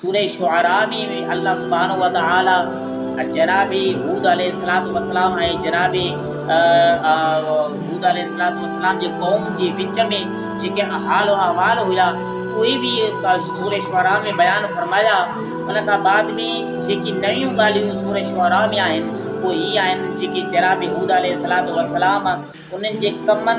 سورة شعراء ۾ به الله سبحانه وتعالي جناب هود عليه الصلوة والسلام ۽ جناب هود عليه الصلوة والسلام جي قوم جي وچ ۾ جيڪي حال و احوال هيا اهي به سورة شعراء ۾ بيان فرمايا. ان کان بعد ۾ جيڪي نيون ڳالهيون سورة شعراء ۾ آهن اهي هي آهن جيڪي جناب هود عليه الصلوة والسلام انهن جي ڪمن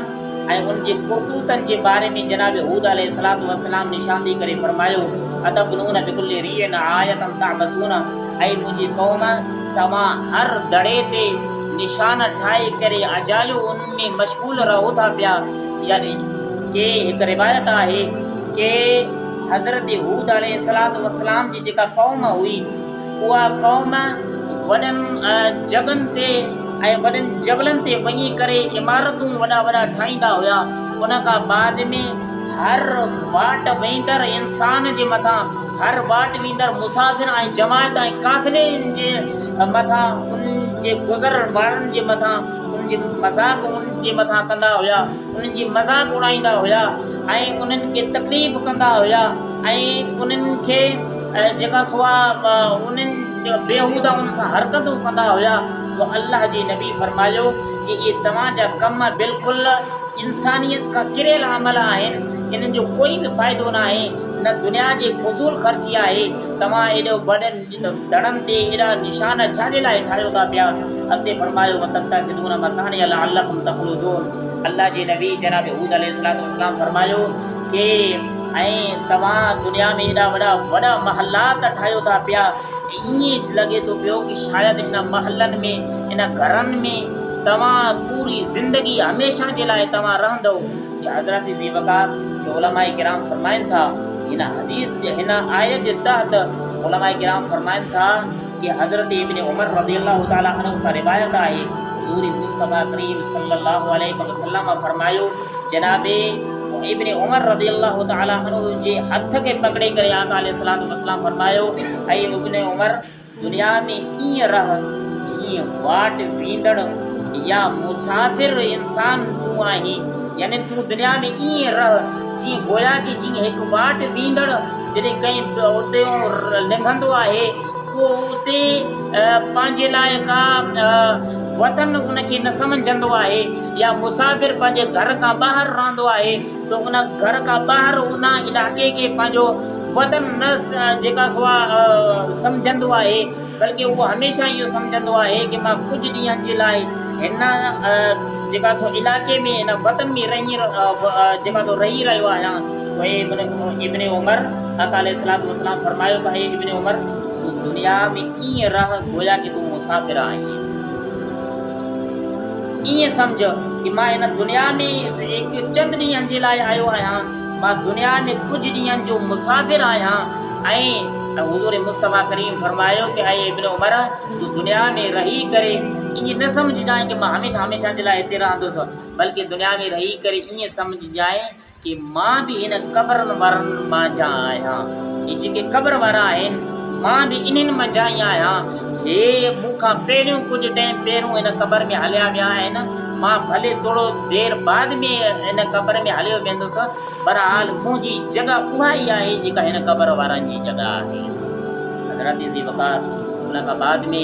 ۽ انهن جي ڪرتوتن جي باري ۾ جناب هود عليه الصلوة والسلام نشاندهي ڪري فرمايو، اتبنون بڪل ريع آية تعبثون، اي منهنجي قوم! توهان هر دڙي تي نشان ٺاهي ڪري اجايو ان ۾ مشغول رهو ٿا پيا. يعني ڪي هڪ روايت آهي ڪي حضرت هود عليه الصلوة والسلام جي جيڪا قوم هئي، اها قوم وڏن جڳهن تي ۽ وڏن جبلن تي وڃي ڪري عمارتون وڏا وڏا ٺاهيندا هيا ان کان بعد ۾ هر واٽ ويندڙ انسان جي مٿان هر واٽ ويندڙ مسافر ۽ جماعت ۽ قافلي جي مٿان انهن جي گذر وارن جي مٿان انهن جي مذاق انهن جي مٿان ڪندا هيا. انهن جي مذاق اڙائيندا هيا ۽ انهن کي تڪليف ڪندا هيا ۽ انهن کي جنهن کان سواء انهن بيهوده انهن سان حرڪتون ڪندا هيا جو الله جي نبي فرمايو ته اهي توهان جا ڪم بلڪل انسانيت کان ڪريل عمل آهن انهن جو ڪوئي به فائدو ناهي نه دنيا جي فضول خرچي آهي توهان ايڏو وڏن ته دڙن تي ايڏا نشان ڇا جي لاء ٺاهيو ٿا پيا؟ اڳتي فرمايو، وتتخذون مصانع لعلڪم تخلدون الله جي نبي جناب هود عليه الصلوة والسلام فرمايو ڪي ۽ توهان دنيا ۾ ايڏا وڏا وڏا محلات ٺاهيو ٿا پيا ۽ ائين لڳي ٿو پيو ڪي شايد ان محلن ۾ ان گهرن ۾ توهان پوري زندگي هميشه جي لاء توهان رهندؤ. ته حضرت ذي وقار کي علماء ڪرام فرمائن ٿا هن حديث جي هن آيت جي تحت علماء ڪرام فرمائن ٿا ته حضرت ابن عمر رضي الله تعالٰي عنه کان روايت آهي حضور مصطفٰي ڪريم صلي الله عليه وسلم فرمايو جناب ابن عمر رضي الله تعالٰي عنه جي هٿ کي پڪڙي ڪري آقا عليه الصلوة والسلام فرمايو اي ابن عمر! دنيا ۾ ائين رهه جيئن واٽ ويندڙ يا مسافر انسان تون آهين، يعني تون دنيا ۾ ائين رهه جيئن گويا ڪي جيئن هڪ واٽ ويندڙ جڏهن ڪنهن اتيون لنگهندو آهي پوء اتي پنهنجي لاء ڪا وطن ان کي نه سمجهندو آهي يا مسافر پنهنجي گهر کان ٻاهر رهندو آهي ته ان گهر کان ٻاهر ان علائقي کي پنهنجو وطن نه جيڪا سو سمجهندو آهي بلڪه اهو هميشه اهو سمجهندو آهي ته مان ڪجهه ڏينهن جي لاء هن جيڪا سو علائقي ۾ هن وطن ۾ رهي جيڪا سو رهي رهيو آهيان اهي ابن عمر آقا عليه الصلوة والسلام فرمايو ته اي ابن عمر تون دنيا ۾ ائين رهه گويا ته تون مسافر آهين. ائين سمجهه ته مان هن دنيا ۾ ايڪ چند ڏينهن جي لاء آيو آهيان، مان دنيا ۾ ڪجهه ڏينهن جو مسافر آهيان ۽ حضور مصطفيٰ ڪريم فرمايو ته اي ابن عمر! تون دنيا ۾ رهي ڪري ائين نه سمجهجانء ته مان هميشه هميشه جي لاء هتي رهندس، بلڪه دنيا ۾ رهي ڪري ائين سمجهجانء ڪي مان به هن قبرن وارن مانجهان آهيان ۽ جيڪي قبر وارا آهن مان به انهن منجهان ئي آهيان. هي مون کان پهريون ڪجهه ٽئيم پهرون هن قبر ۾ هليا ويا آهن، مان ڀلي ٿورو دير بعد ۾ هن قبر ۾ هليو ويندس، بهرحال منهنجي جڳهه اها ئي آهي جيڪا هن قبر وارن جي جڳهه آهي. حضرت ذي وقار ملاقا بعد ۾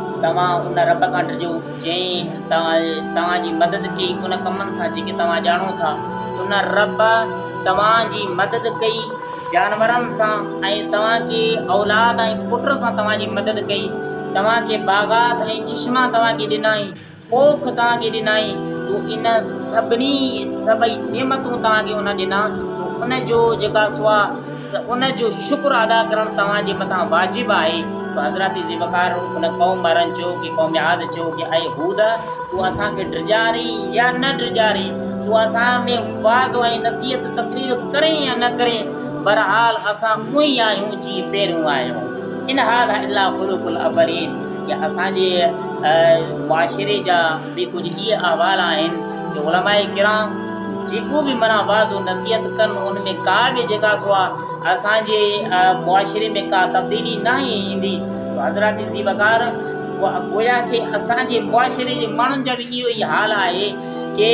توهان ان رب کان ڊڄو جنهن توهان جي مدد ڪئي ان ڪمن سان جيڪي توهان ڄاڻو ٿا. ان رب توهان جي مدد ڪئي جانورن سان ۽ توهان کي اولاد ۽ پٽ سان توهان جي مدد ڪئي. توهان کي باغات ۽ چشما توهان کي ڏنائين. پوء توهان کي ڏنائين، تو ان سڀني، سڀئي، نعمتون توهان کي ان ڏنا، تو ان جو، جيڪا سوا، ته ان جو شڪر ادا ڪرڻ توهان جي مٿان واجب آهي، ته حضرت ذوالفقار ان قوم وارن چيو ڪي قوم عاد چيو ڪي اي هود! تون اسان کي ڊڄارين يا نه ڊڄارين، تون اسان ۾ وعظ ۽ نصيحت، تقرير، ڪرين يا نه ڪرين، بهرحال اسان اونهي آهيون جيئن پهريون آهيون، ان هاذا الا خلق الاولين، جي اسان جي معاشري جا به ڪجهه اهي احوال آهن جو علماء ڪرام جيڪو به معنيٰ وعظ و نصيحت ڪن ان ۾ ڪا به جيڪا سو آهي اسان جي معاشري ۾ ڪا تبديلي ناهي ايندي جو حضرات ذي وقار گويا کي اسان جي معاشري جي ماڻهن جا به اهو ئي حال آهي ڪي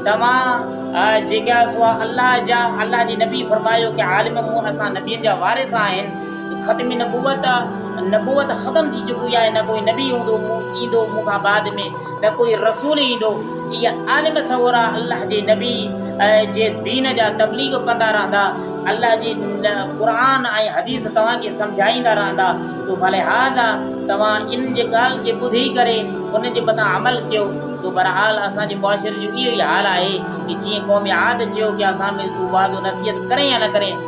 توهان جيڪا سو آهي الله جا الله جي نبي فرمايو ڪي عالم مون اسان نبين جا وارث آهن ختم نبوت، نبوت ختم ٿي چڪي آهي، نه ڪوئي نبي هوندو، ايندو، مون کان بعد ۾ نه ڪوئي رسول ايندو. اهي عالم سڳورا الله جي نبي جي دين جا تبليغ ڪندا رهندا، الله جي قرآن ۽ حديث توهان کي سمجهائيندا رهندا ته فلهذا توهان انهن جي ڳالهه کي ٻڌي ڪري انهن جي مٿان عمل ڪيو ته بهرحال اسان جي معاشري جو اهو ئي حال آهي ته جيئن قوم عاد چيو ڪي اسان ۾ تون وعظ و نصيحت ڪرين يا نه ڪرين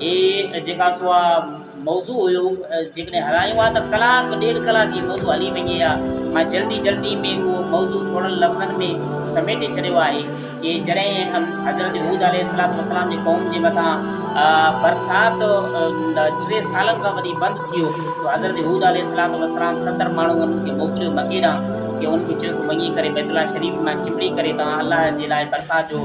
هي جيڪا سو اها موضوع هيو جيڪڏهن هلايون ها ته ڪلاڪ ڏيڍ ڪلاڪ هي موضوع هلي وڃي ها مان جلدي جلدي ۾ اهو موضوع ٿورن لفظن ۾ سميٽي ڇڏيو آهي ڪي جڏهن حضرت هود عليه السلام السلام جي قوم جي مٿان برسات ٽي سالن کان وري بند ٿي ويو ته حضرت هود عليه السلام السلام ستر ماڻهو انهن کي موڪليو مڪي ڏانهن ڪي انهن کي چيو ته وڃي ڪري بيت الله شريف مان چمڙي ڪري تان الله جي لاء برسات جو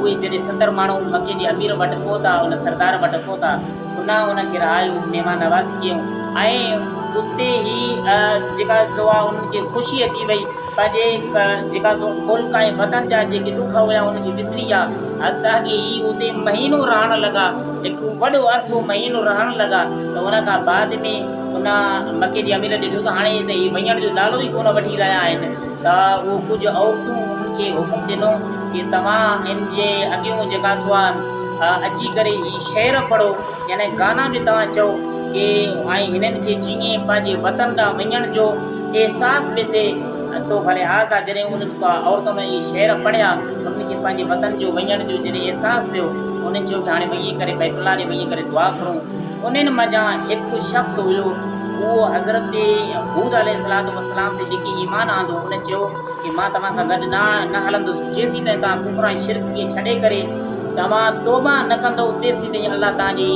اهي جڏهن ستر ماڻهو ان مڪي جي امير وٽ پهتا، ان سردار وٽ پهتا، انهن انهن کي رهايو، مهمان نوازي ڪيائون ۽ اتي ئي جيڪا سو آ انهن کي خوشي اچي وئي، پنهنجي جيڪا سو ملڪ ۽ وطن جا جيڪي ڏک هيا انهن کي وسري ويا، حتيٰ ڪي هي اتي مهينو رهڻ لڳا، هڪ وڏو عرصو مهينو رهڻ لڳا ته ان کان بعد ۾ ان مڪي جي امير ڏٺو ته هاڻي ته هي وڃڻ جو نالو ئي ڪونه وٺي رهيا آهن. ته اهو ڪجهه عورتون انهن کي حڪم ڏنو ڪي توهان ان جي اڳيون جيڪا سو آهن اچي ڪري هي شعر پڙهو يعني گانا به توهان چئو ڪي ۽ هنن کي چيئين پنهنجي وطن ڏانهن وڃڻ جو احساس به ٿئي تو ڀلي آ ڪا جڏهن انهن ڪا عورتن اهي شعر پڙهيا انهن کي پنهنجي وطن جو وڃڻ جو جڏهن احساس ٿيو انهن چيو ته هاڻي وڃي ڪري بيت الله ڏي وڃي ڪري دعا گهرون انهن منجهان هڪ شخص هيو اهو حضرت هود عليه السلام تي جيڪي ايمان آندو ان چيو ته مان توهان سان گڏ نه هلندس جيسين تائين توهان ڪفر ۽ شرڪ کي ڇڏي ڪري توهان توبه نه ڪندو تيسين تائين الله توهان جي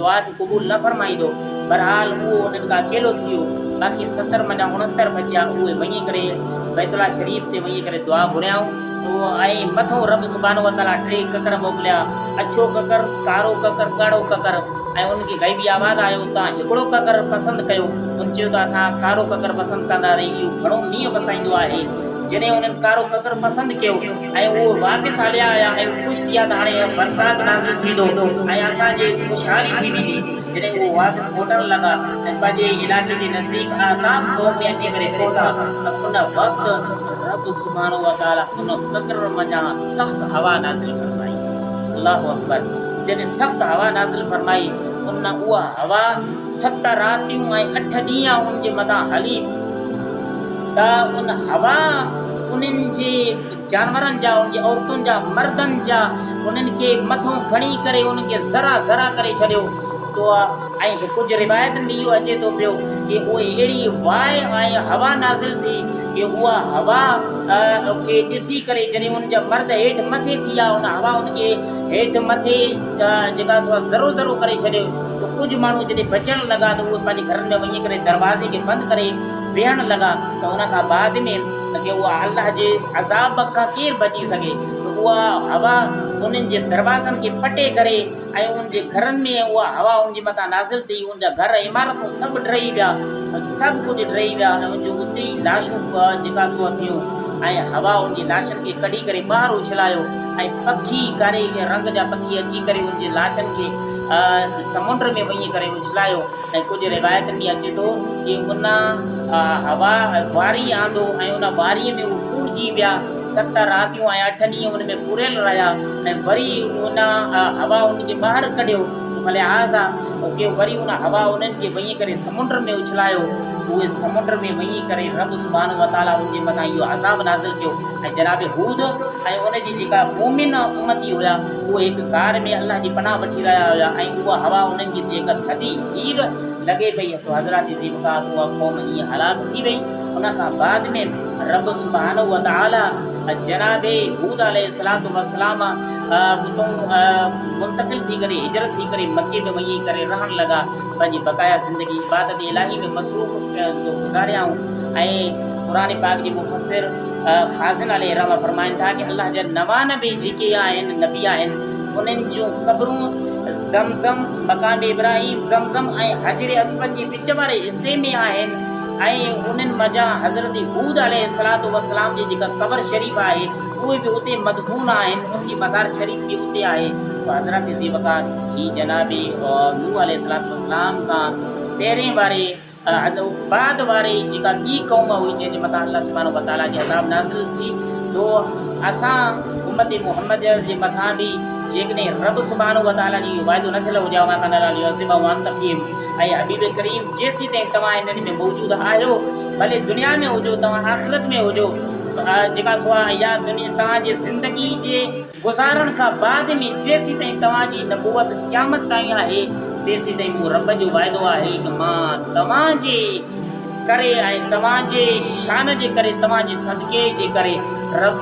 دعا کي قبول نه فرمائيندو بهرحال اهو انهن کان اڪيلو ٿي ويو باقي ستر منجهان اڻهتر بچيا اهي وڃي ڪري بيت الله شريف تي وڃي ڪري دعا گهريائون. هو ۽ مٿو رب سبحانه وتعاليٰ ٽي ڪڪر موڪليا، اڇو ڪڪر، ڪارو ڪڪر، ڳاڙهو ڪڪر ۽ انهن کي غيبي آواز آيو ته تان هڪڙو ڪڪر پسند ڪيو، انهن چيو ته اسان ڪارو ڪڪر پسند ڪنداسين، اهو گهڻو مينهن وسائيندو آهي، جڏهن انهن ڪارو ڪڪر پسند ڪيو ۽ اهو واپس هليا آيا ۽ خوش ٿيا ته هاڻي برسات نازل ٿيندو ۽ اسان جي خوشحالي ٿي ويندي. جڏهن اهي واپس موٽڻ لڳا ۽ پنهنجي علائقي جي نزديڪ احقاف قوم ۾ اچي ڪري پهتا ته ان وقت رب سبحانه وتعالي ان پڪر منجهان سخت هوا نازل فرمائي الله اڪبر جڏهن سخت هوا نازل فرمائي ان اها هوا ست راتيون ۽ اٺ ڏينهن انهن جي مٿان هلي ته ان هوا انهن جي جانورن جا، ان جي عورتن جا، مردن جا، انهن کي مٿون کڻي ڪري انهن کي ذرا ذرا ڪري ڇڏيو تو ۽ ڪجهه روايتن ۾ اهو اچي ٿو پيو ڪي اهي اهڙي واء ۽ هوا نازل ٿي ڪي اها هوا کي ڏسي ڪري جڏهن انهن جا مرد هيٺ مٿي ٿي آيا ان هوا انهن کي هيٺ مٿي جيڪا سو ذرو ذرو ڪري ڇڏيو تو ڪجهه ماڻهو جڏهن بچڻ لڳا ته اهي پنهنجي گهرن ۾ وڃي ڪري دروازي کي بند ڪري ويهڻ لڳا ته ان کان بعد ۾ ته جي اها الله جي عذاب کان ڪير بچي سگهي ته اها هوا انهن جي دروازن کي پٽي ڪري ۽ انهن جي گهرن ۾ ۽ اها هوا انهن جي مٿان نازل ٿي انهن جا گهر ۽ عمارتون سڀ ڊهي ويا سڀ ڪجهه ڊهي ويا ۽ انهن جون اتي ئي لاشون به جيڪا سوء ٿيون ۽ هوا انهن جي لاشن کي ڪڍي ڪري ٻاهر اڇلايو ۽ پکي ڪاري رنگ جا پکي اچي ڪري انهن جي لاشن کي سمنڊ ۾ وڃي ڪري اڇلايو. ۽ ڪجهه روايتن ۾ اچي ٿو ته ان هوا واري آندو ۽ ان واري ۾ هو ڦوٽجي ويا، ست راتيون ۽ اٺ ڏينهن ان ۾ پوريل رهيا ۽ وري ان هوا انهن کي ٻاهر ڪڍيو، فلهٰذا ڪيو وري ان هوا انهن کي وڃي ڪري سمنڊ ۾ اڇلايو، اهي سمنڊ ۾ وڃي ڪري رب سبحانه وتعاليٰ انهن جي مٿان اهو عذاب نازل ڪيو ۽ جناب هود ۽ ان جي جيڪا مؤمن امتي هيا. اهي هڪ غار ۾ الله جي پناهه وٺي رهيا هيا ۽ اها هوا انهن جي تي هڪ ٿڌي هير لڳي پئي سو حضرات ذي وقار اها قوم ائين هلاڪ ٿي وئي ان کان بعد ۾ رب سبحانه وتعالي جناب هود عليه الصلوة والسلام اتون منتقل ٿي ڪري هجرت ٿي ڪري مڪي ۾ وڃي ڪري رهڻ لڳا پنهنجي بقايا زندگي عبادت الاهي ۾ مصروف گذاريائون ۽ قرآن پاڪ جي مفسر خازن عليه الرحمة فرمائن ٿا ته الله جا نوان نبي جيڪي آهن، نبي آهن، انهن جون قبرون زم زم، مقام ابراهيم، زم زم ۽ حجر اسود جي وچ واري حصي ۾ آهن ۽ انهن منجهان حضرت هود عليه الصلوة والسلام جي جيڪا قبر شريف آهي اهي به اتي مدفون آهن، ان جي مزار شريف به اتي آهي. پوء حضرت ذي وقار هي جناب نوح عليه الصلوة والسلام کان پهرين واري. عاد ۽ بعد واري جيڪا ٻي قوم هئي جنهن جي مٿان الله سبحانه وتعاليٰ جي عذاب نازل ٿي ٿو اسان امت محمديه جي مٿان به جيڪڏهن رب سبحانه وتعاليٰ جو اهو وعدو نه ٿيل هجي ها وما ڪان الله ليعذبهم وانت فيهم اي حبيب ڪريم جيسيتائين توهان انهن ۾ موجود آهيو ڀلي دنيا ۾ هجو توهان آخرت ۾ هجو جيڪا سواء يا توهان جي زندگي جي گذارڻ کان بعد ۾ جيسيتائين توهان جي نبوت قيامت تائين آهي، تيسيتائين مون رب جو وعدو آهي ته مان توهان جي ڪري ۽ توهان جي شان جي ڪري، توهان جي صدقي جي ڪري،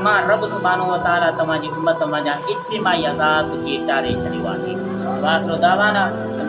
مان رب سبحانه وتعاليٰ توهان جي امت منجهان اجتماعي عذاب کي ٽاري ڇڏيو آهي. وآخر دعوانا ان.